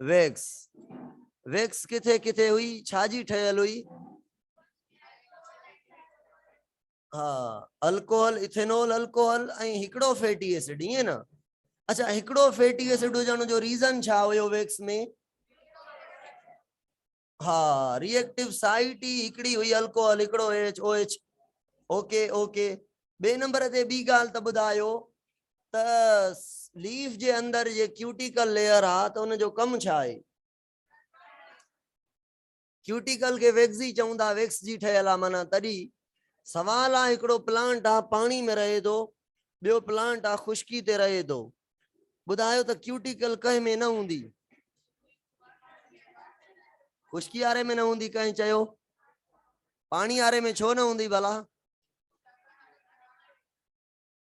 Wax wax ڪٿي ڪٿي هئي ڇا جي ٺهيل هئي ها الڪوهل اٿينول الڪوهل ۽ هڪڙو فيٽي اسيڊ ائين نه اچھا هڪڙو فيٽي اسيڊ هجڻ جو ريزن ڇا هيو ويڪس ۾ ها ري ايڪٽيو سائيٽ ئي هڪڙي هئي الڪوهل هڪڙو H O H okay okay ٻي نمبر تي ٻي ڳالهه ته ٻڌايو ته ليف جي اندر جي ڪيوٽيڪل ليئر آ ته ان جو ڪم ڇا آهي ڪيوٽيڪل کي ويڪسي چون ٿا ويڪس جي ٺهيل آ معنی تڏي سوال آ هڪڙو پلانٽ آ پاڻي ۾ رهي ٿو ٻيو پلانٽ آ خشڪي تي رهي ٿو ٻڌايو ته ڪيوٽيڪل ڪنهن ۾ نه هوندي. خشڪي واري ۾ نه هوندي ڪنهن چيو پاڻي واري ۾ ڇو نه هوندي ڀلا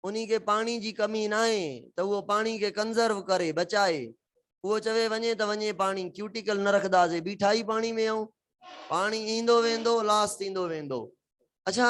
انهي کي پاڻي جي ڪمي نه آهي ته اهو پاڻي کي ڪنزرو ڪري بچائي اهو چوي وڃي ته وڃي پاڻي ڪيوٽيڪل نه رکنداسي بيٺا ئي پاڻي ۾ آئون پاڻي ايندو ويندو لاس ٿيندو ويندو اڇا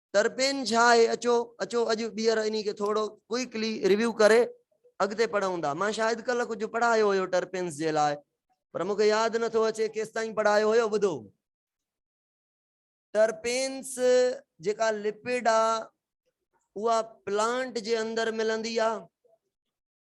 ترپين ڇا آهي اچو اچو اڄ ٻيهر انهي کي ٿورو ڪوئڪلي ريويو ڪري اڳتي پڙهون ٿا مان شايد ڪلهه ڪجهه پڙهايو هيو ٽرپينس جي لاء پر مون کي ياد نٿو اچي ڪيستائين پڙهايو هيو ٻڌو ٽرپينس جيڪا لپيڊ آ اها پلانٽ جي اندر ملندي آ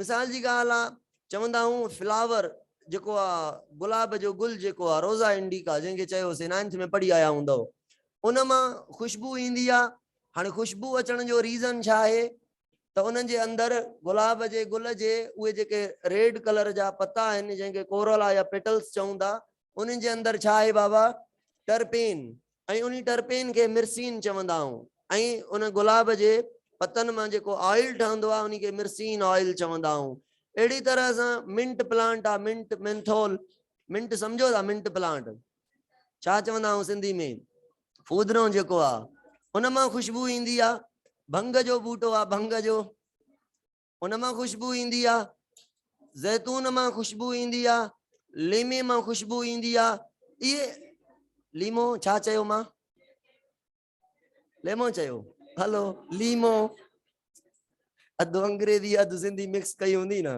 مثال جي ڳالهه آ چوندا هئون فلاور جيڪو آ گلاب جو گل جيڪو آ روزا انڊيڪا جنهن کي چيوسين نائنٿ ۾ پڙهي آيا هوندؤ ان مان خوشبو ايندي آ هاڻي خوشبو اچڻ جو ريزن ڇا آهي ته انهن جي اندر گلاب جي گل جي اهي جيڪي ريڊ ڪلر جا پتا آهن جنهن کي ڪورولا يا پيٽلس چئون ٿا انهن جي اندر ڇا آهي بابا ٽرپين ۽ انهي ٽرپين کي مرسين چوندا آهون ۽ ان گلاب جي پتن مان جيڪو آئل ٺهندو آهي انهي کي مرسين آئل چوندا آهون اهڙي طرح سان منٽ پلانٽ آهي منٽ مينٿول منٽ سمجهو ٿا منٽ پلانٽ ڇا چوندا آهون سنڌي ۾ فودنو جيڪو آهي ان مان خوشبو ايندي آهي ڀنگ جو ٻوٽو آهي ڀنگ جو ان مان خوشبو ايندي آ، زيتون مان خوشبو ايندي آ، ليمي مان خوشبو ايندي آ، اهي ليمو ڇا چيو مان؟ ليمو چيو هلو ليمو اڌ انگريزي اڌ سنڌي مڪس ڪئي هوندي نه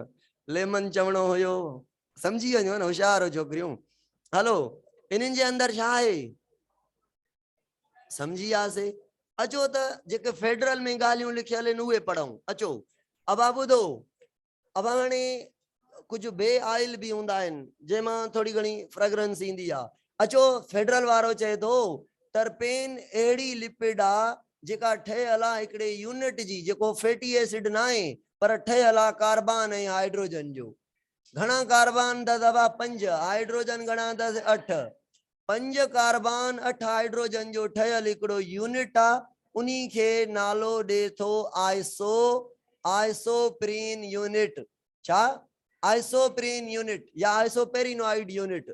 ليمن چوڻو هيو سمجھي وڃو نه هوشيار هو ڇوڪريون هلو انهن جي اندر ڇا آهي سمجهي وياسي اچو ته جيڪي فيڊرل ۾ ڳالهيون لکيل آهن اهي پڙهون اچو ابا ٻڌو ابا هاڻي ڪجهه بي آئل به هوندا آهن جنهن مان ٿوري گهڻي فرگرنس ايندي آهي اچو فيڊرل وارو چئي ٿو ٽرپين اهڙي لپڊ آهي جيڪا ٺهيل آهي هڪڙي يونٽ جي جيڪو فيٽي ايسڊ نه آهي پر ٺهيل آهي ڪاربان ۽ هائيڊروجن جو گهڻا ڪاربان اٿس ابا پنج هائيڊروجن گهڻا اٿس اٺ پنج ڪاربان اٺ هائڊروجن جو ٺهيل هڪڙو يونٽ آ انهي کي نالو ڏي ٿو آئسو آئسوپرين يونٽ ڇا آئسوپرين يونٽ يا آئسوپرينوائيڊ يونٽ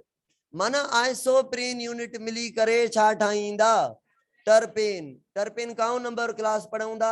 معنيٰ آئسوپرين يونٽ ملي ڪري ڇا ٺاهيندا ٽرپين ٽرپين ڪائون نمبر ڪلاس پڙهون ٿا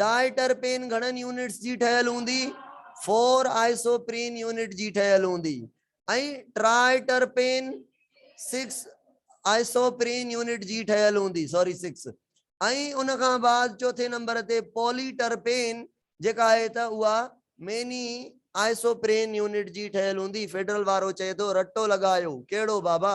ڊاء ٽرپين گهڻن يونٽس جي ٺهيل هوندي، فور آئسوپرين يونٽ جي ٺهيل هوندي ۽ triterpene six isoprene unit جي ٺهيل هوندي سوري سڪس ۽ ان کان بعد چوٿين نمبر تي پولي ٽرپين جيڪا آهي ته اها ميني آئسوپرين يونٽ جي ٺهيل هوندي فيڊرل وارو چئي ٿو رٽو لڳايو ڪهڙو بابا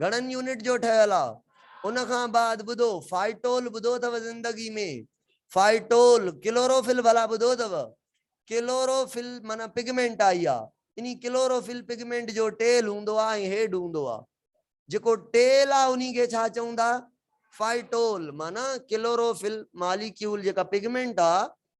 گهڻن يونٽ جو ٺهيل آ. ان کان بعد ٻڌو فائٽول ٻڌو اٿو زندگي ۾ فائٽول ڪلوروفل ڀلا ٻڌو اٿو ڪلوروفل معنيٰ پگمينٽ آئي آ انهي ڪلوروفل پگمينٽ جو ٽيل هوندو آ ۽ هيڊ هوندو آ جيڪو ٽيل آ انهي کي ڇا چئون ٿا فائٽول معنيٰ ڪلوروفل ماليڪيول جيڪا پگمينٽ آ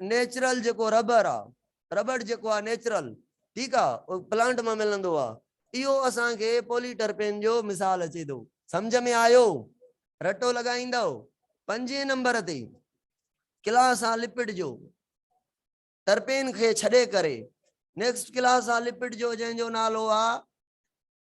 نيچرل جيڪو ربر آ ربڙ جيڪو آ نيچرل ٺيڪ آ پلانٽ مان ملندو آ اهو اسان کي پولي ٽرپين جو مثال اچي ٿو سمجهه ۾ آيو رٽو لڳائيندؤ پنجين نمبر تي ڪلاس آ لپٽ جو ٽرپين کي ڇڏي ڪري نيڪسٽ ڪلاس آ لپٽ جو جنهن جو نالو آ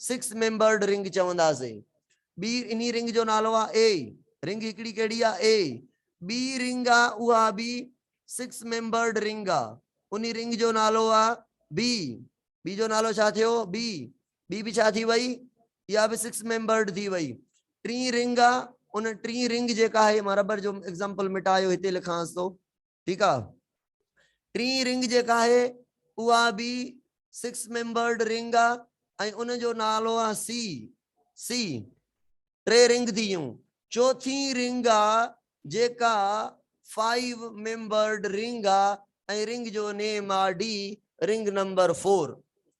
سڪس ميمبرڊ رنگ چونداسي ٻي انهي رنگ جو نالو آ اي رنگ هڪڙي ڪهڙي آ اي ٻي رنگ آ اها به سڪس ميمبرڊ رنگ آ انهي رنگ جو نالو آ بي بي جو نالو ڇا ٿيو بي بي به ڇا ٿي وئي اها به سڪس ميمبرڊ ٿي وئي ٽي رنگ آ ان ٽي رنگ جيڪا آهي مان ربر جو ايگزامپل مٽايو هتي لکانس ٿو ٺيڪ آ ٽين رنگ جيڪا آهي اها به سڪس ميمبرڊ رنگ آ ۽ ان جو نالو آ سي سي ٽي رنگ ٿي ويون چوٿين رنگ آ جيڪا فائيو ميمبرڊ رنگ آ ۽ رنگ جو نيم آ ڊي رنگ نمبر فور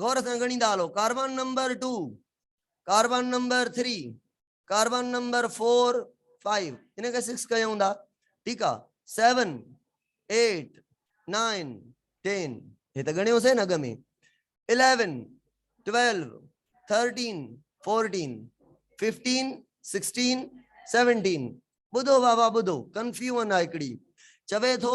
غور سان ڳڻيندا هلو، carbon number two, carbon number three, carbon number four, five, هن کي سڪس ڪيو هوندا، ٺيڪ آ، سيون، ايٽ، نائن، ٽين، هي ته ڳڻيو سين اڳ ۾، eleven, twelve, thirteen, fourteen, fifteen, sixteen, seventeen, ٻڌو بابا ٻڌو، ڪنفيون آ هڪڙي، چوي ٿو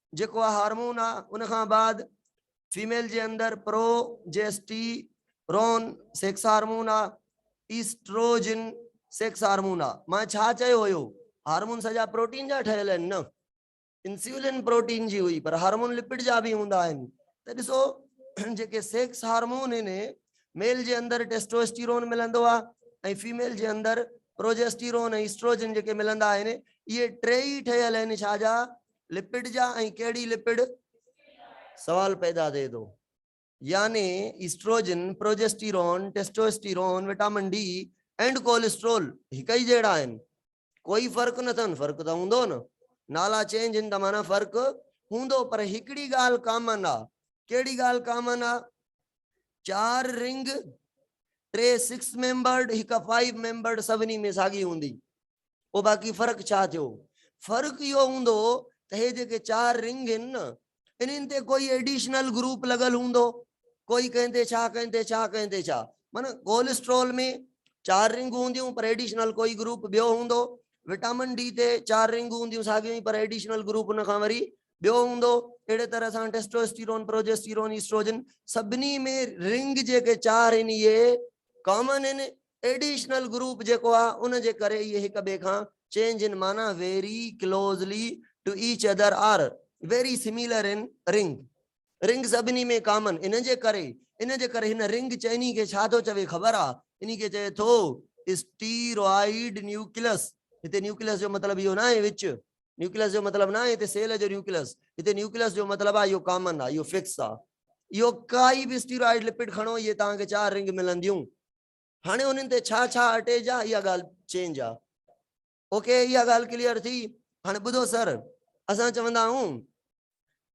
جيڪو اھا ھارمون آ ان کان بعد فيميل جي اندر progesterone sex hormone آ ايسٽروجن سيڪس ھارمون آ مان ڇا چيو ھيو ھارمون سڄا پروٽين جا ٺھيل آھن نه انسولين پروٽين جي ھئي پر ھارمون لپڊ جا به ھوندا آھن ته ڏسو جيڪي سيڪس ھارمون ھن ميل جي اندر ٽيسٽوسٽيرون ملندو آ ۽ فيميل جي اندر پروجيسٽيرون ۽ ايسٽروجن جيڪي ملندا آھن اھي ٽي ئي ٺھيل آھن ڇا جا لپڊ جا ۽ ڪهڙي لپڊ؟ سوال پيدا ٿئي ٿو. يعني estrogen, progesterone, testosterone, vitamin D and cholesterol هڪ ئي جهڙا آهن؟ ڪوئي فرق نه اٿن؟ فرق ته هوندو نه. نالا چينج هن ته معنيٰ فرق هوندو پر هڪڙي ڳالهه ڪامن آ. ڪهڙي ڳالهه ڪامن آ؟ چار رنگ، ٽي سڪس ميمبرڊ، هڪ فائيو ميمبرڊ سڀني ۾ ساڳي هوندي. پوء باقي فرق ڇا ٿيو؟ فرق اهو هوندو ته هي جيڪي چار رنگ هن نه انهن تي ڪوئي ايڊيشنل گروپ لڳل هوندو ڪوئي ڪنهن تي ڇا ڪنهن تي ڇا ڪنهن تي ڇا معنيٰ ڪولسٽرول ۾ چار رنگون هونديون پر ايڊيشنل ڪوئي گروپ ٻيو هوندو وٽامن ڊي تي چار رنگون هونديون ساڳيون ئي پر ايڊيشنل گروپ ان کان وري ٻيو هوندو اهڙي طرح سان ٽيسٽوسٽيرون پروجيسٽيرون ايسٽروجن سڀني ۾ رنگ جيڪي چار هن اهي ڪامن هن ايڊيشنل گروپ جيڪو آ ان جي ڪري اهي هڪ ٻئي کان چينج ان معنيٰ very closely to each other are very similar in رنگ رنگ سڀني ۾ ڪامن ان جي ڪري ان جي ڪري هن رنگ چئني کي ڇا ٿو چوي خبر آ انهي کي چئي ٿو اسٽيرائيڊ نيوڪلس هتي نيوڪلس جو مطلب اهو نه آهي وچ نيوڪلس جو مطلب نه آهي هتي سيل جو نيوڪلس هتي نيوڪلس جو مطلب آ اهو ڪامن آ اهو فڪس آ اهو ڪائي به اسٽيرائيڊ لپڊ کڻو اهي توهان کي چار رنگ ملنديون هاڻي انهن تي ڇا ڇا اٽيچ آ اها ڳالهه چينج آ اوڪي اها ڳالهه ڪليئر ٿي هاڻي ٻڌو سر اسان چوندا آهيون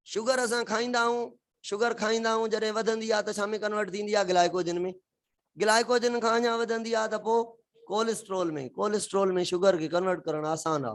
شگر اسان کائيندا آهيون شگر کائيندا آهيون جڏهن وڌندي آ ته ڇا ۾ ڪنورٽ ٿيندي آ گلائڪوجن ۾ گلائڪوجن کان اڃا وڌندي آ ته پوء ڪولسٽرول ۾ ڪولسٽرول ۾ شگر کي ڪنورٽ ڪرڻ آسان آ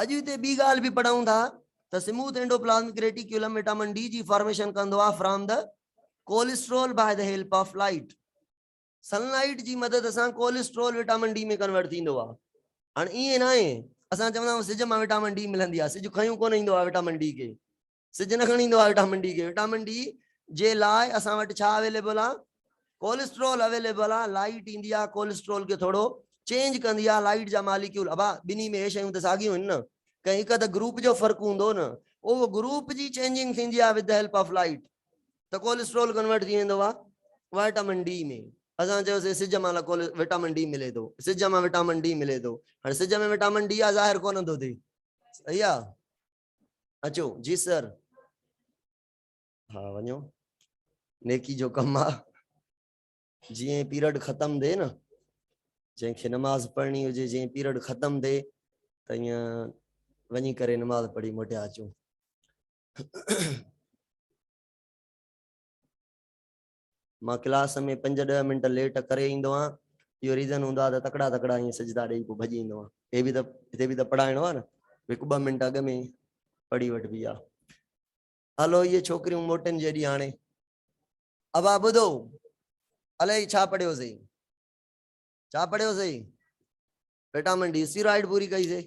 اڄ هتي ٻي ڳالهه به پڙهون ٿا ته smooth endoplasmic reticulum vitamin D جي فارميشن ڪندو آهي from the cholesterol by the help of light. Sunlight جي مدد سان ڪولسٽرول وٽامن ڊي ۾ ڪنورٽ ٿيندو آهي. هاڻ ائين ناهي اسان چوندا آهيون سج مان وٽامن ڊي ملندي آهي. سج کنيون ڪونه ايندو آهي وٽامن ڊي کي. سج نه کڻي ايندو آهي وٽامن ڊي کي وٽامن ڊي جي لاء اسان وٽ ڇا اويليبل آ ڪولسٽرول اويليبل آ لائيٽ ايندي آ ڪولسٽرول کي ٿورو چينج ڪندي آ لائيٽ جا ماليڪيول ابا ٻنهي ۾ هي شيون ته ساڳيون آهن نه ڪنهن هڪ اڌ گروپ جو فرق هوندو نه اهو گروپ جي چينجنگ ٿيندي آ ود هيلپ آف لائيٽ ته ڪولسٽرول ڪنورٽ ٿي ويندو آ وٽامن ڊي ۾ اسان چيوسي سج مان ڪول وٽامن ڊي ملي ٿو سج مان وٽامن ڊي ملي ٿو هاڻي سج ۾ وٽامن ڊي آ ظاهر ڪونه ٿو ٿي صحيح آ اچو جي سر ها وڃو نيڪي جو ڪم آ جي پيرڊ ختم ٿي نه جنهن کي نماز پڙهڻي هجي جي پيرڊ ختم ٿي ته ائين وڃي ڪري نماز پڙهي موٽيا اچو مان ڪلاس ۾ پنج ڏهه منٽ ليٽ ڪري ايندو آهيان. اهو ريزن هوندو آهي ته تڪڙا تڪڙا ائين سجدا ڏيئي پوء ڀڄي ايندو آهيان. هي به ته هتي به ته پڙهائڻو آهي نه. هڪ ٻه منٽ اڳ ۾ پڙهي وٺبي آهي. هلو اهي ڇوڪريون موٽين جيڏي هاڻي. ابا ٻڌو الائي ڇا پڙهيو سي. ڇا پڙهيو سي. وٽامن ڊي اسٽيرائڊ پوري ڪئي سي.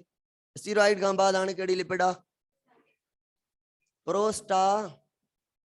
اسٽيرائڊ کان بعد هاڻي ڪهڙي لپڊ آهي. پروسٽا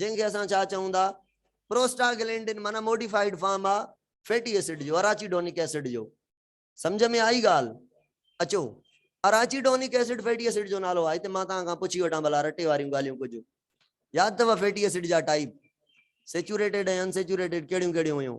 جنهن کي اسان ڇا چئون ٿا پروسٽاگلينڊن معنيٰ موڊيفائيڊ فارم آ فيٽي ايسڊ جو اراچيڊونڪ ايسڊ جو سمجهه ۾ آئي ڳالهه اچو اراچيڊونڪ ايسڊ فيٽي ايسڊ جو نالو آهي ته مان توهان کان پڇي وٺان ڀلا رٽي واريون ڳالهيون ڪجهه ياد اٿو فيٽي ايسڊ جا ٽائيپ سيچوريٽيڊ ۽ ان سيچوريٽيڊ ڪهڙيون ڪهڙيون هيون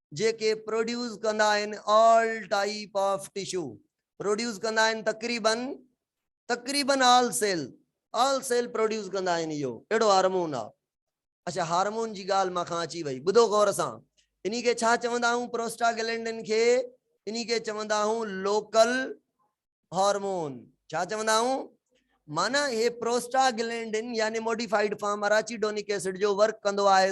جيڪي پروڊيوس ڪندا آهن all type of tissue produce ڪندا آهن تقريباً تقريباً all cell all cell produce ڪندا آهن اهو اهڙو هارمون آهي اڇا هارمون جي ڳالهه مان کان اچي وئي ٻڌو غور سان انهي کي ڇا چوندا آهيون پروسٽاگلينڊن کي انهي کي چوندا آهيون لوڪل هارمون ڇا چوندا آهيون معنی هي پروسٽاگلينڊن يعني موڊيفائيڊ فارم اراچيڊونڪ ايسڊ جو ورڪ ڪندو آهي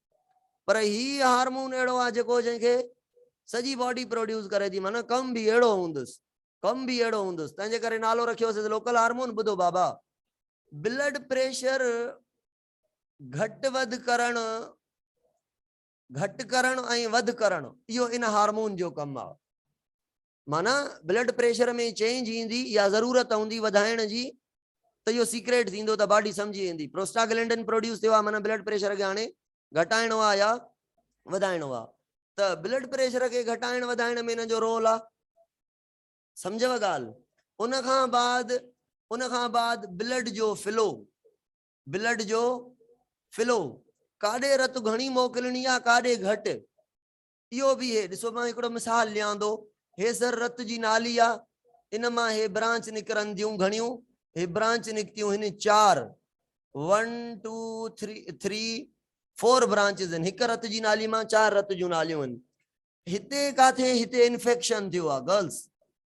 پر هي هارمون اهڙو آ جيڪو جنهن کي سڄي باڊي پروڊيوس ڪري ٿي معنيٰ ڪم به اهڙو هوندس ڪم به اهڙو هوندس تنهن جي ڪري نالو رکيو هوسيس لوڪل هارمون ٻڌو بابا بلڊ پريشر گهٽ وڌ ڪرڻ گهٽ ڪرڻ ۽ وڌ ڪرڻ اهو ان هارمون جو ڪم آ معنيٰ بلڊ پريشر ۾ چينج ايندي يا ضرورت هوندي وڌائڻ جي ته اهو سيڪريٽ ٿيندو ته باڊي سمجهي ويندي پروسٽاگلينڊن پروڊيوس ٿيو آهي معنيٰ بلڊ پريشر کي هاڻي گهٽائڻو آهي يا وڌائڻو آهي ته بلڊ پريشر کي گهٽائڻ وڌائڻ ۾ هن جو رول آهي سمجهيو ڳالهه ان کان بعد ان کان بعد بلڊ جو فلو بلڊ جو فلو ڪاڏي رت گهڻي موڪلڻي آهي ڪاڏي گهٽ اهو به هي ڏسو مان هڪڙو مثال ڏيان ٿو هي سر رت جي نالي آ ان مان هي برانچ نڪرن ٿيون گهڻيون هي برانچ نڪتيون هن چار 1 2 3 3 4 برانچز ان هڪ رت جي نالي مان چار رت جون ناليون ان هتي ڪاٿي هتي انفيڪشن ٿيو آ گرلز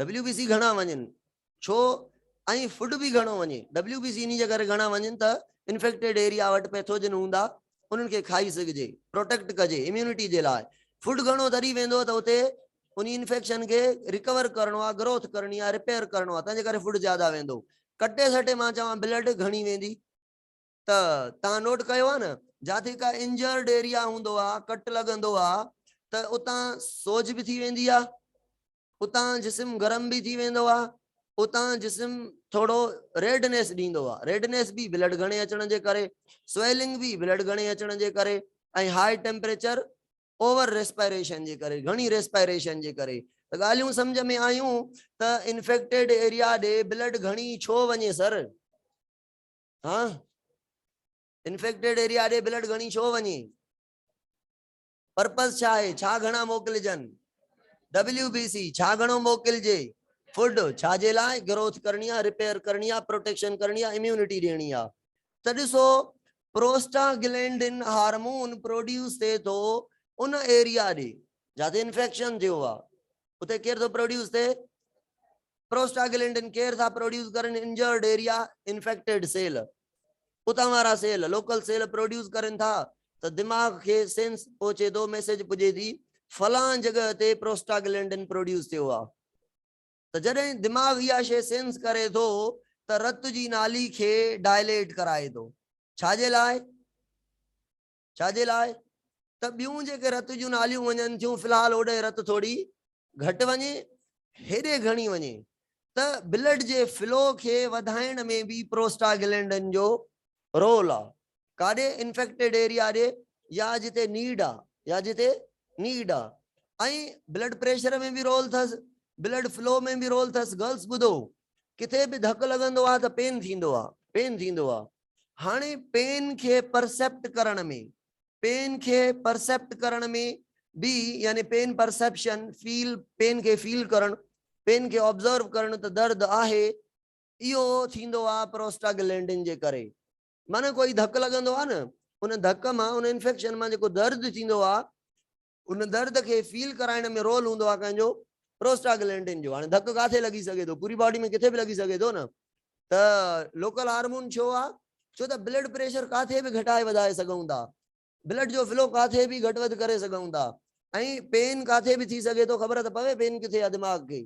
ڊبليو بي سي گهڻا وڃن ڇو ۽ فوڊ به گهڻو وڃي ڊبليو بي سي انهي جي ڪري گهڻا وڃن ته انفيڪٽيڊ ايريا وٽ پيٿوجن هوندا انهن کي کائي سگهجي پروٽيڪٽ ڪجي اميونٽي جي لاء فوڊ گهڻو تري ويندو ته اتي انهي انفيڪشن کي رڪور ڪرڻو آهي گروٿ ڪرڻي آهي رپيئر ڪرڻو آهي تنهن جي ڪري فوڊ زياده ويندو ڪٽي سٽي مان چوان بلڊ گهڻي ويندي. ته توهان نوٽ ڪيو آهي نه جاٿي ڪا انجرڊ ايريا هوندو آهي ڪٽ لڳندو آهي ته اتان سوڄ به ٿي ويندي آهي اتان جسم گرم به ٿي ويندو آهي اتان جسم ٿورو ريڊنيس ڏيندو آهي ريڊنيس به بلڊ گهڻي اچڻ جي ڪري سويلنگ به بلڊ گهڻي اچڻ جي ڪري ۽ هاء ٽيمپريچر اوور ريسپائريشن جي ڪري گهڻي ريسپائريشن جي ڪري ته ڳالهيون سمجھ ۾ آيون ته انفيڪٽيڊ ايريا ڏي بلڊ گهڻي ڇو وڃي سر ها انفيڪٽيڊ ايريا ڏي بلڊ گهڻي ڇو وڃي پرپز ڇا آهي ڇا گهڻا موڪلجن ڊبليو بي سي ڇا گهڻو موڪلجي فوڊ ڇا جي لاء گروٿ ڪرڻي آهي ريپيئر ڪرڻي آهي پروٽيڪشن ڪرڻي آهي اميونٽي ڏيڻي آهي ته ڏسو پروسٽا گلينڊن هارمون پروڊيوس ٿئي ٿو ان ايريا ڏي جاٿي انفيڪشن ٿيو آهي اتي ڪير ٿو پروڊيوس ٿئي پروسٽاگلينڊن ڪير ٿا پروڊيوس ڪرن انجرڊ ايريا انفيڪٽيڊ سيل اتان وارا سيل لوڪل سيل پروڊيوس ڪرن ٿا ته دماغ کي سينس پهچي ٿو ميسيج پڄي ٿي فلان جڳهه تي پروسٽاگلينڊن پروڊيوس ٿيو آهي ته جڏهن دماغ اها شي سينس ڪري ٿو ته رت جي نالي کي ڊائليٽ ڪرائي ٿو ڇا جي لاء ڇا جي لاء ته ٻيون جيڪي رت جون ناليون وڃن ٿيون في الحال هوڏهن رت ٿوري گهٽ وڃي هيڏي گهڻي وڃي ته بلڊ جي فلو کي وڌائڻ ۾ به پروسٽاگلينڊن جو رول آ ڪاڏي انفيڪٽيڊ ايريا ڏي يا جتي نيڊ آ يا جتي نيڊ آ ۽ بلڊ پريشر ۾ به رول ٿس بلڊ فلو ۾ به رول ٿس گرلس ٻڌو ڪٿي به ڌڪ لڳندو آ ته پين ٿيندو آ پين ٿيندو آ هاڻي پين کي پرسيپٽ ڪرڻ ۾، پين کي پرسيپٽ ڪرڻ ۾ به يعني پين پرسيپشن، فيل، پين کي فيل ڪرڻ، پين کي آبزرو ڪرڻ ته درد آهي، اهو ٿيندو آهي پروسٽاگلينڊن جي ڪري. معنيٰ ڪوئي ڌڪ لڳندو آهي نه، ان ڌڪ مان، ان انفيڪشن مان جيڪو درد ٿيندو آهي، ان درد کي فيل ڪرائڻ ۾ رول هوندو آهي ڪنهن جو؟ پروسٽاگلينڊن جو. هاڻي ڌڪ ڪاٿي لڳي سگهي ٿو؟ پوري باڊي ۾ ڪٿي به لڳي سگهي ٿو نه. ته لوڪل هارمون ڇو آهي؟ ڇو ته بلڊ پريشر ڪاٿي به گهٽائي وڌائي سگهون ٿا. بلڊ جو فلو ڪاٿي به گهٽ وڌ ڪري سگهون ٿا. ۽ پين ڪاٿي به ٿي سگهي ٿو. خبر ته پوي پين ڪٿي آهي دماغ کي.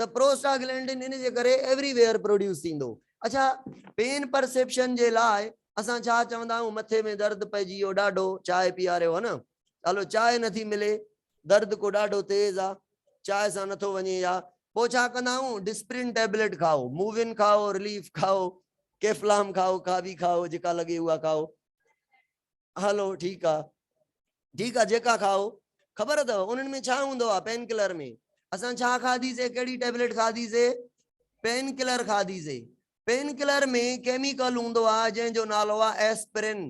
ته پروسٽاگلينڊن ان جي ڪري ايوري ويئر پروڊيوس ٿيندو. اڇا پين پرسيپشن جي لاء اسان ڇا چوندا آهيون مٿي ۾ درد پئجي ويو ڏاڍو چانهه پياريو ها نه چالو چانهه نٿي ملي درد ڪو ڏاڍو تيز آ چانهه سان نٿو وڃي يا پوء ڇا ڪندا آهيون ڊسپرين ٽيبليٽ کائو موون کائو رليف کائو ڪيفلام کائو ڪاوي کائو جيڪا لڳي اها کائو. هلو ٺيڪ آ ٺيڪ آ جيڪا کائو. خبر اٿو انهن ۾ ڇا هوندو آ پين ڪلر ۾ اسان ڇا کاڌي سي ڪهڙي ٽيبليٽ کاڌي سي پين ڪلر کاڌي سي پين ڪلر ۾ ڪيميڪل هوندو آ جنهن جو نالو آ ايسپرين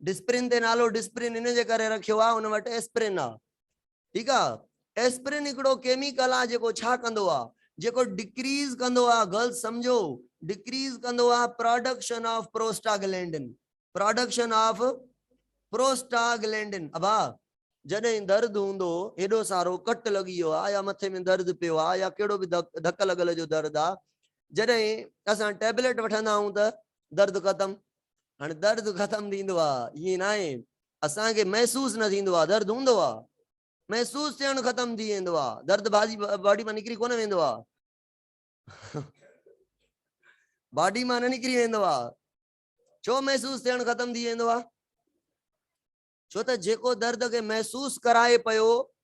ڊسپرين تي نالو ڊسپرين ان جي ڪري رکيو آ ان وٽ ايسپرين آ ٺيڪ آ ايسپرين هڪڙو ڪيميڪل آ جيڪو ڇا ڪندو آ جيڪو ڊڪريز ڪندو آ گرلز سمجهو ڊڪريز ڪندو آ production of prostaglandin production of prostaglandin ابا جڏهن درد هوندو هيڏو سارو ڪٽ لڳي ويو آ يا مٿي ۾ درد پيو آ يا ڪهڙو به ڌڪ لڳل جو درد آ جڏهن اسان ٽيبليٽ وٺندا آهيون ته درد ختم هاڻي درد ختم ٿيندو آ ائين ناهي اسان کي محسوس نه ٿيندو آ درد هوندو آ محسوس ٿيڻ ختم ٿي ويندو آ درد باضي باڊي مان نڪري ڪونه ويندو آ باڊي مان نه نڪري ويندو آ ڇو محسوس ٿيڻ ختم ٿي ويندو آ ڇو ته جيڪو درد کي محسوس ڪرائي پيو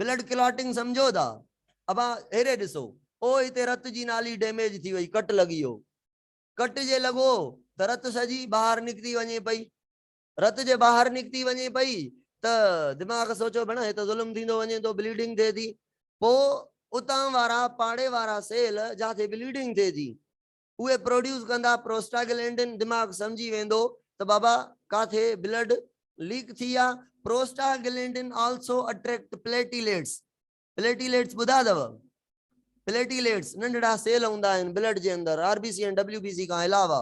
بلڊ ڪلاٽنگ سمجهو ٿا ابا هيڏي ڏسو او هتي رت جي نالي ڊيميج ٿي وئي ڪٽ لڳي هو ڪٽ جي لڳو ته رت سڄي ٻاهر نڪتي وڃي پئي رت جي ٻاهر نڪتي وڃي پئي ته دماغ سوچو ڀيڻ هي ته ظلم ٿيندو وڃي ٿو بليڊنگ ٿئي ٿي پو اتان وارا پاڙي وارا سيل جاٿي بليڊنگ ٿئي ٿي اهي پروڊيوس ڪندا پروسٽاگلينڊن دماغ سمجهي ويندو ته بابا ڪاٿي بلڊ ليڪ ٿي آ prostaglandin also attract platelets platelets ٻڌا اٿو پليٽيليٽس ننڍڙا سيل هوندا آهن بلڊ جي اندر R B C ۽ W B C کان علاوه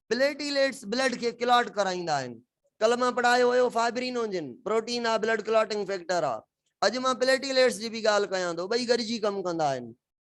پليٽيليٽس بلڊ کي ڪلاٽ ڪرائيندا آهن ڪل مان پڙهايو هيو فائبرينوجن پروٽين آ بلڊ ڪلاٽنگ فيڪٽر آ اڄ مان پليٽيليٽس جي به ڳالهه ڪيان ٿو ٻئي گڏجي ڪم ڪندا آهن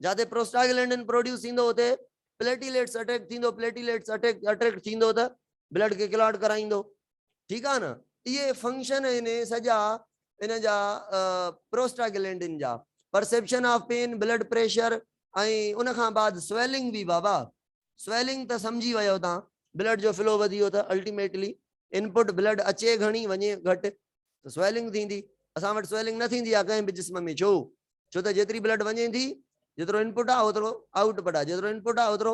جاتي پروسٽاگلينڊن پروڊيوس ٿيندو اتي پليٽيليٽس اٽيڪ ٿيندو پليٽيليٽس اٽيڪ اٽريڪٽ ٿيندو ته بلڊ کي ڪلاٽ ڪرائيندو ٺيڪ آ نه اهي فنڪشن آهن سڄا ان جا پروسٽاگلينڊن جا perception of pain blood pressure ۽ ان کان بعد سويلنگ به بابا سويلنگ ته سمجهي ويو تان بلڊ جو فلو وڌيو ته الٽيميٽلي انپٽ بلڊ اچي گهڻي وڃي گهٽ ته سويلنگ ٿيندي اسان وٽ سويلنگ نه ٿيندي آهي ڪنهن به جسم ۾ ڇو؟ ڇو ته جيتري بلڊ وڃي ٿي جيترو انپٽ آهي اوترو آئوٽ پٽ آهي جيترو انپٽ آهي اوترو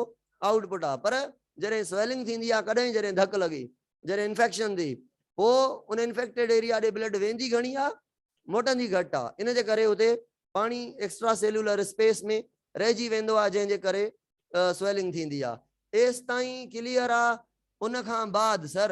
آئوٽ پٽ آهي پر جڏهن سويلنگ ٿيندي آهي ڪڏهن جڏهن ڌڪ لڳي جڏهن انفيڪشن ٿي پوء ان انفيڪٽيڊ ايريا ڏي بلڊ ويندي گهڻي آهي موٽندي گهٽ آهي ان جي ڪري اتي پاڻي ايڪسٽرا سيلولر اسپيس ۾ رهجي ويندو آهي جنهن جي ڪري سويلنگ ٿيندي آهي ايستائين ڪليئر آهي ان کان بعد سر.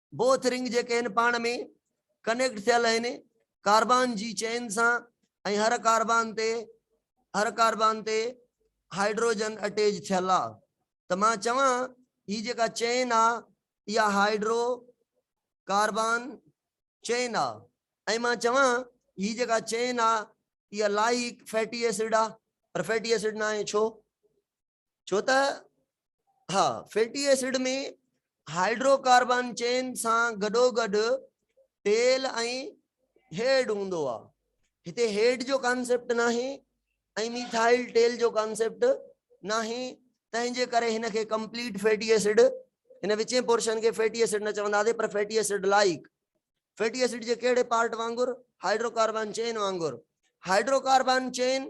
بوٿ رنگ جيڪي هن پاڻ ۾ ڪنيڪٽ ٿيل هن ڪاربان جي چين سان ۽ هر ڪاربان تي هر ڪاربان تي هائيڊروجن اٽيج ٿيل آ ته مان چوان هي جيڪا چين آ اها هائيڊرو ڪاربان چين آ ۽ مان چوان هي جيڪا چين آ اها لائيڪ فيٽي ايسڊ آ پر فيٽي ايسڊ ناهي ڇو ڇو ته ها fatty acid ۾ hydrocarbon chain سان گڏو گڏ تيل ۽ هيڊ هوندو آ هتي هيڊ جو ڪانسيپٽ ناهي ۽ ميٿائل ٽيل جو ڪانسيپٽ ناهي تنهن جي ڪري هن کي ڪمپليٽ فيٽي ايسڊ هن وچين پورشن کي فيٽي ايسڊ نه چوندا سي پر fatty acid like fatty acid جي ڪهڙي پارٽ وانگر هائيڊرو ڪاربان چين وانگر hydro carbon chain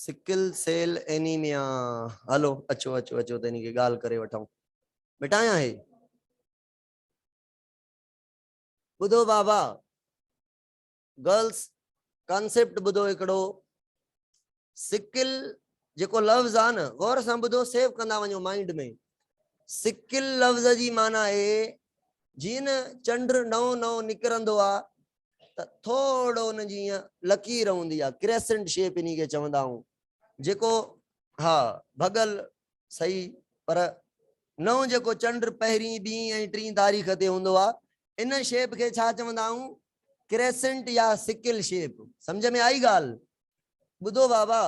sickle cell anemia هلو اچو اچو اچو ته انهي کي ڳالهه ڪري وٺون مٽايان هي ٻڌو بابا گرلس ڪانسيپٽ ٻڌو هڪڙو سڪل جيڪو لفظ آ نه غور سان ٻڌو سيو ڪندا وڃو مائنڊ ۾ سڪل لفظ جي معنی آهي جيئن چنڊ نئون نئون نڪرندو آ ته ٿورڙو ان جي ائين لڪير هوندي آهي ڪريسنٽ شيپ انهي کي چوندا آهون جيڪو ها ڀڳل صحيح پر نئون جيڪو چنڊ پهرين ٻين ۽ ٽين تاريخ تي هوندو آهي ان شيپ کي ڇا چوندا آهون ڪريسنٽ يا سڪل شيپ سمجھ ۾ آئي ڳالهه ٻڌو بابا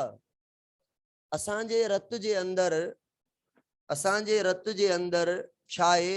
اسان جي رت جي اندر اسان جي رت جي اندر ڇا آهي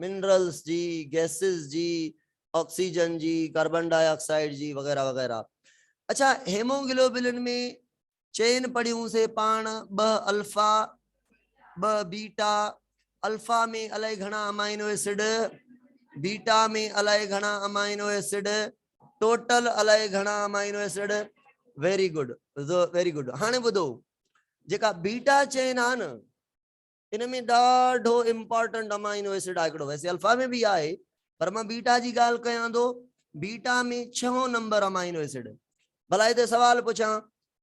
منرلز جي، گئسز جي، آڪسيجن جي، ڪاربن ڊاء آڪسائيڊ جي وغيره وغيره. اڇا هيموگلوبلن ۾ چئن پڙيون سي پاڻ ٻه الفا ٻه بيٽا الفا ۾ الائي گهڻا امائنو ايسڊ بيٽا ۾ الائي گهڻا امائنو ايسڊ ٽوٽل الائي گهڻا amino acid very good very good هاڻي ٻڌو جيڪا بيٽا چئن آ نه ان ۾ ڏاڍو امپارٽنٽ امائنو ايسڊ آهي هڪڙو ويسي الفا ۾ به آهي پر مان بيٽا جي ڳالهه ڪيان ٿو بيٽا ۾ ڇهون نمبر امائنو ايسڊ ڀلا هتي سوال پڇان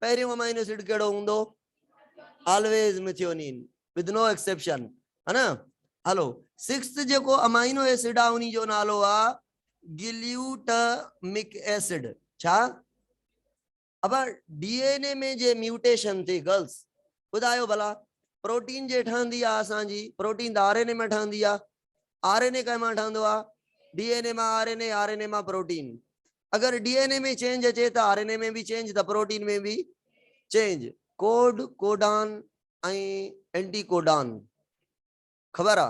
پهريون امائنو ايسڊ ڪهڙو هوندو always methionine with no exception ها نه هلو سڪسٿ جيڪو امائنو ايسڊ آهي انهي جو نالو آهي گليوٽمڪ ايسڊ ڇا ابا ڊي اين اي ۾ جي ميوٽيشن ٿي گرلس ٻڌايو ڀلا پروٽين جي ٺهندي آ اسان جي پروٽين ته آر اين اي مان ٺهندي آ آر اين اي ڪنهن مان ٺهندو آ ڊي اين اي مان R N A R N A مان پروٽين اگر ڊي اين اي ۾ چينج اچي ته آر اين اي ۾ به چينج ته پروٽين ۾ به change code codon ۽ anticodon خبر آ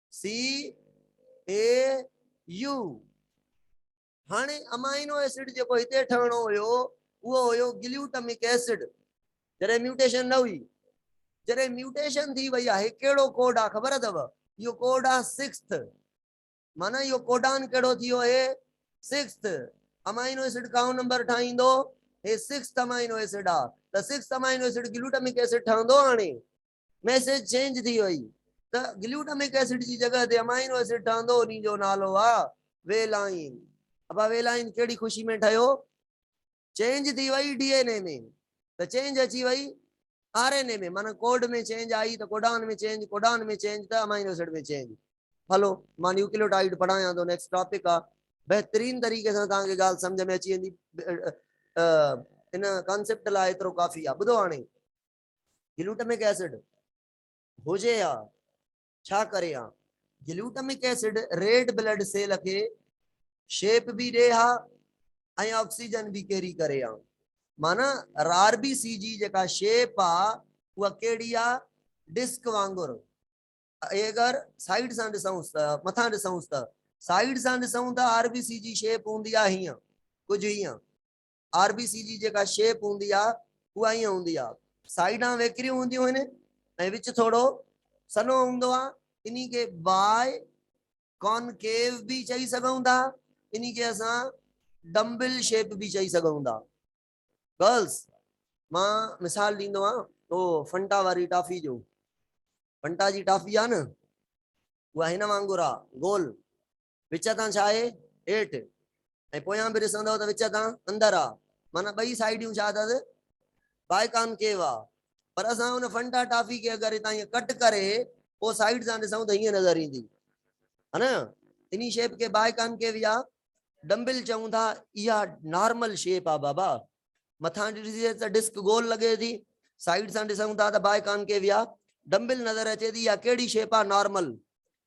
سي اي يو هاڻي امائنو ايسڊ جيڪو هتي ٺهڻو هيو اهو هيو گليوٽمڪ ايسڊ جڏهن ميوٽيشن نه هئي جڏهن ميوٽيشن ٿي وئي آهي ڪهڙو ڪوڊ آهي خبر اٿو اهو ڪوڊ آهي سڪسٿ معنيٰ اهو ڪوڊان ڪهڙو ٿي ويو هي سڪسٿ امائنو ايسڊ ڪائون نمبر ٺاهيندو هي سڪسٿ امائنو ايسڊ آهي ته sixth amino acid glutamic acid ٺهندو هاڻي ميسيج چينج ٿي وئي ته گليوٽامڪ ايسڊ جي جڳهه تي امائنو ايسڊ ٺهندو انهي جو نالو آ ويلائين ابا ويلائين ڪهڙي خوشي ۾ ٺهيو چينج ٿي وئي ڊي اين اي ۾ ته چينج اچي وئي آر اين اي ۾ معنيٰ ڪوڊ ۾ چينج آئي ته ڪوڊان ۾ چينج ڪوڊان ۾ چينج ته امائنو ايسڊ ۾ چينج هلو مان نيوڪليوٽائيڊ پڙهايان ٿو نيڪسٽ ٽاپڪ آ بهترين طريقي سان توهان کي ڳالهه سمجهه ۾ اچي ويندي ان ڪانسيپٽ لاء ايترو ڪافي آ ٻڌو هاڻي گلوٽمڪ ايسڊ هجي ها ڇا ڪري ها glutamic acid red blood cell کي شيپ به ڏي ها ۽ آڪسيجن به ڪيري ڪري ها معنی رار بي سي جي جيڪا شيپ آ اها ڪهڙي آ ڊسڪ وانگر اگر سائيڊ سان ڏسون ته مٿان ڏسون ته سائيڊ سان ڏسون ته آر بي سي جي شيپ هوندي آ هيئن ڪجهه هيئن آر بي سي جي جيڪا شيپ هوندي آ اها ائين هوندي آ سائيڊان ويڪريون هونديون آهن ۽ وچ ٿورو سنهو هوندو آ انهي کي بائي ڪانڪيو به چئي سگهون ٿا انهي کي اسان ڊمبل شيپ به چئي سگهون ٿا گرلس مان مثال ڏيندو آ تو فنٽا واري ٽافي جو فنٽا جي ٽافي آ نه اها هن وانگر آ گول وچ تان ڇا آهي؟ هيٺ ۽ پويان به ڏسندؤ ته وچ تان اندر آ، معنيٰ ٻئي سائيڊيون ڇا اٿس؟ بائي ڪانڪيو آ. پر اسان ان فنٽا ٽافي کي اگر هتان ائين ڪٽ ڪري پوء سائيڊ سان ڏسون ته هيئن نظر ايندي. ها نه؟ انهي شيپ کي بائي ڪانڪيو يا ڊمبل چئون ٿا. اها نارمل شيپ آ بابا. مٿان ڏسجي ته ڊسڪ گول لڳي ٿي. سائيڊ سان ڏسون ٿا ته بائي ڪانڪيو يا ڊمبل نظر اچي ٿي. اها ڪهڙي شيپ آ؟ Normal.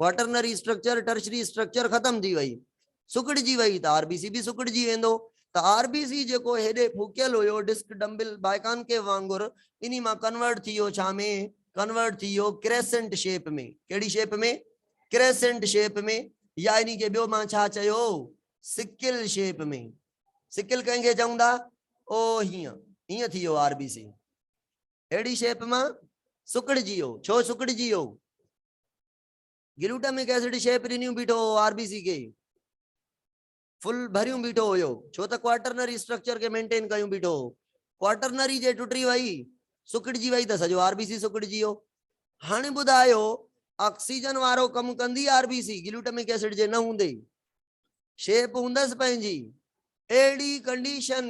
Quaternary structure tertiary structure ختم ٿي وئي سڪڙجي وئي ته آر بي سي به سڪڙجي ويندو ته آر بي سي جيڪو هيڏي ڦوڪيل هيو ڊسڪ ڊمبل بائيڪانڪيو وانگر انهي مان ڪنورٽ ٿي ويو ڇا ۾ ڪنورٽ ٿي ويو ڪريسنٽ شيپ ۾ ڪهڙي شيپ ۾ ڪريسنٽ شيپ ۾ يا انهي کي ٻيو مان ڇا چيو سڪل شيپ ۾ سڪل ڪنهن کي چون ٿا او هيئن هيئن ٿي ويو آر بي سي اهڙي شيپ مان سڪڙجي ويو. ڇو سڪڙجي ويو؟ گلوٽامڪ ايسڊ شيپ ڏنيون بيٺو هو آر بي سي کي. فل ڀريون بيٺو هيو. ڇو ته ڪوارٽرنري اسٽرڪچر کي مينٽين ڪيون بيٺو هو. ڪوارٽرنري جي ٽٽي وئي، سڪڙجي وئي ته سڄو آر بي سي سڪڙجي ويو. هاڻي ٻڌايو آڪسيجن وارو ڪم ڪندي R B C glutamic acid جي نه هوندي؟ شيپ هوندس پنهنجي اهڙي ڪنڊيشن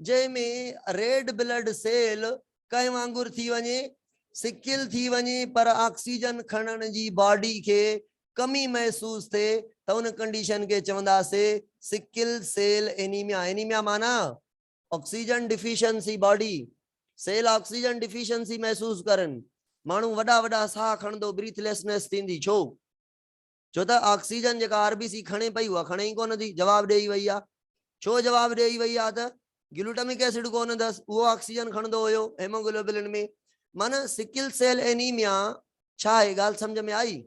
جنهن ۾ ريڊ بلڊ سيل ڪنهن وانگر ٿي وڃي سڪل ٿي وڃي پر آڪسيجن کڻڻ جي باڊي کي ڪمي محسوس ٿئي ته ان ڪنڊيشن کي چونداسي سڪل سيل انيميا انيميا معنی oxygen deficiency body cell oxygen deficiency محسوس ڪرن ماڻهو وڏا وڏا ساهه کڻندو بريٿليسنس ٿيندي ڇو ڇو ته آڪسيجن جيڪا آر بي سي کڻي پئي اها کڻي ئي ڪونه ٿي جواب ڏيئي وئي آهي ڇو جواب ڏيئي وئي آهي ته گلوٽامڪ ايسڊ ڪونه اٿس اهو آڪسيجن کڻندو هيو هيموگلوبلن ۾ معنيٰ سڪل سيل اينيميا ڇا آهي ڳالهه سمجهه ۾ آئي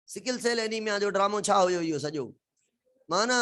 سڪل سيل اينيميا جو ڊرامو ڇا هيو اهو سڄو معنيٰ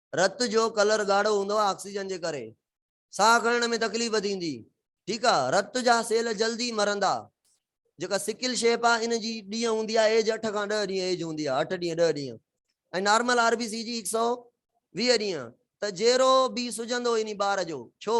رت جو ڪلر ڳاڙهو هوندو آهي آڪسيجن جي ڪري ساهه کڻڻ ۾ تڪليف ٿيندي ٺيڪ آ رت جا سيل جلدي مرندا جيڪا سڪل شيپ آ ان جي ڏينهن هوندي آ ايج 8 کان 10 ڏينهن ايج هوندي آ 8 ڏينهن 10 ڏينهن ۽ نارمل آر بي سي جي 120 ڏينهن ته جيرو بي سجندو اني ٻار جو ڇو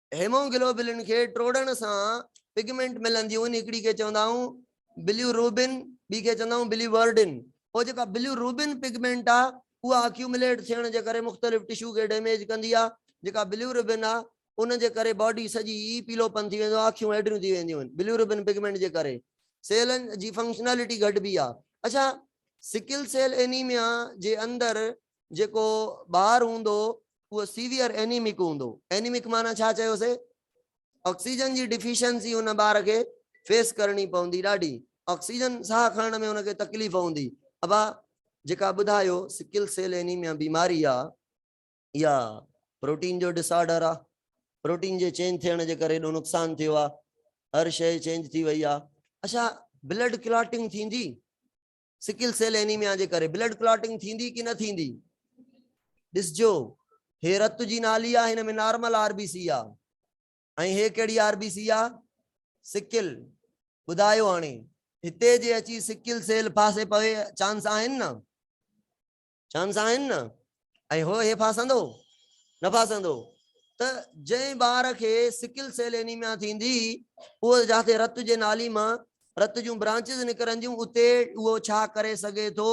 هيموگلوبلن کي ٽوڙڻ سان پگمينٽ ملنديون آهن هڪڙي کي چوندا آهيون بليو روبن ٻي کي چوندا آهيون بليو ورڊن پوء جيڪا بليو روبن پگمينٽ آهي اها اڪيومليٽ ٿيڻ جي ڪري مختلف ٽشو کي ڊيميج ڪندي آهي جيڪا بليو روبن آهي ان جي ڪري باڊي سڄي ئي پيلو پن ٿي ويندو آهي اکيون هيڊريون ٿي وينديون آهن بليو روبن پگمينٽ جي ڪري سيلن جي فنڪشنالٽي گهٽبي آهي اڇا سڪل سيل اينيميا جي اندر جيڪو ٻار هوندو اهو سيويئر اينيمڪ هوندو اينيمڪ معنيٰ ڇا چيوسي آڪسيجن جي ڊفيشنسي ان ٻار کي فيس ڪرڻي پوندي ڏاڍي آڪسيجن ساهه کڻڻ ۾ ان کي تڪليف هوندي ابا جيڪا ٻڌايو سڪل سيل اينيميا بيماري آ يا پروٽين جو ڊس آرڊر آ پروٽين جي چينج ٿيڻ جي ڪري ڏو نقصان ٿيو آ هر شيء چينج ٿي وئي آ اچھا بلڊ ڪلاٽنگ ٿيندي سڪل سيل اينيميا جي ڪري بلڊ ڪلاٽنگ ٿيندي ڪي نه ٿيندي ڏسجو هي رت جي نالي آ هن ۾ نارمل آر بي سي آ ۽ هي ڪهڙي آر بي سي آ سڪل ٻڌايو هاڻي هتي جي اچي سڪل سيل پاسي پوي چانس آهن نه چون سان آهن نه ۽ هو هي ڦاسندو نه ڦاسندو ته جنهن ٻار کي سڪل سيل اينيميا ٿيندي اهو جاٿي رت جي نالي مان رت جون برانچز نڪرنديون اتي اهو ڇا ڪري سگهي ٿو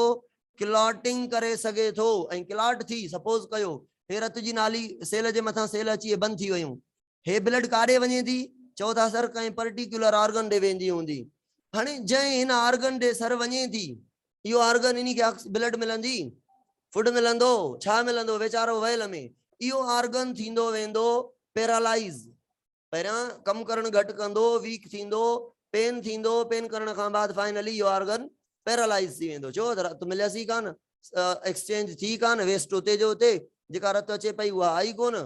ڪلاٽنگ ڪري سگهي ٿو ۽ ڪلاٽ ٿي سپوز ڪيو هي رت جي نالي سيل جي مٿان سيل اچي بند ٿي ويون هي بلڊ ڪاڏي وڃي ٿي؟ چئو ٿا سر ڪنهن پرٽيڪيولر آرگن ڏي ويندي هوندي. هاڻي جنهن هن آرگن ڏي سر وڃي ٿي اهو آرگن انهي کي آڪس بلڊ ملندي؟ فوڊ ملندو؟ ڇا ملندو؟ ويچارو ويل ۾ اهو آرگن ٿيندو ويندو پيرالائيز. پهريان ڪم ڪرڻ گهٽ ڪندو، ويڪ ٿيندو، پين ٿيندو، پين ڪرڻ کان بعد فائنلي اهو آرگن پيرالائيز ٿي ويندو. ڇو ته رت مليس ئي ڪانه، ايڪسچينج ٿي ڪانه، ويسٽ اتي جو اتي، جيڪا رت اچي پئي اها آئي ڪونه،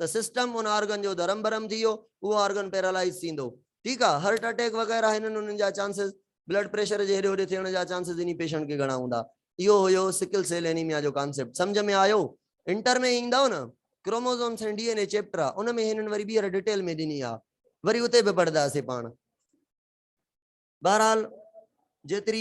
ته سسٽم ان آرگن جو درهم برهم ٿي ويو اهو آرگن پيرالائيز ٿيندو ٺيڪ آ هرٽ اٽيڪ وغيره هنن هنن جا چانسز بلڊ پريشر جي هيڏي هوڏي ٿيڻ جا چانسز انهي پيشنٽ کي گهڻا هوندا اهو هيو سڪل سيل اينيميا جو ڪانسيپٽ سمجهه ۾ آيو انٽر ۾ ايندؤ نه chromosomes ۽ D N A chapter آ ان ۾ هنن وري ٻيهر ڊيٽيل ۾ ڏني آ وري اتي به پڙهداسين پاڻ بهرحال جيتري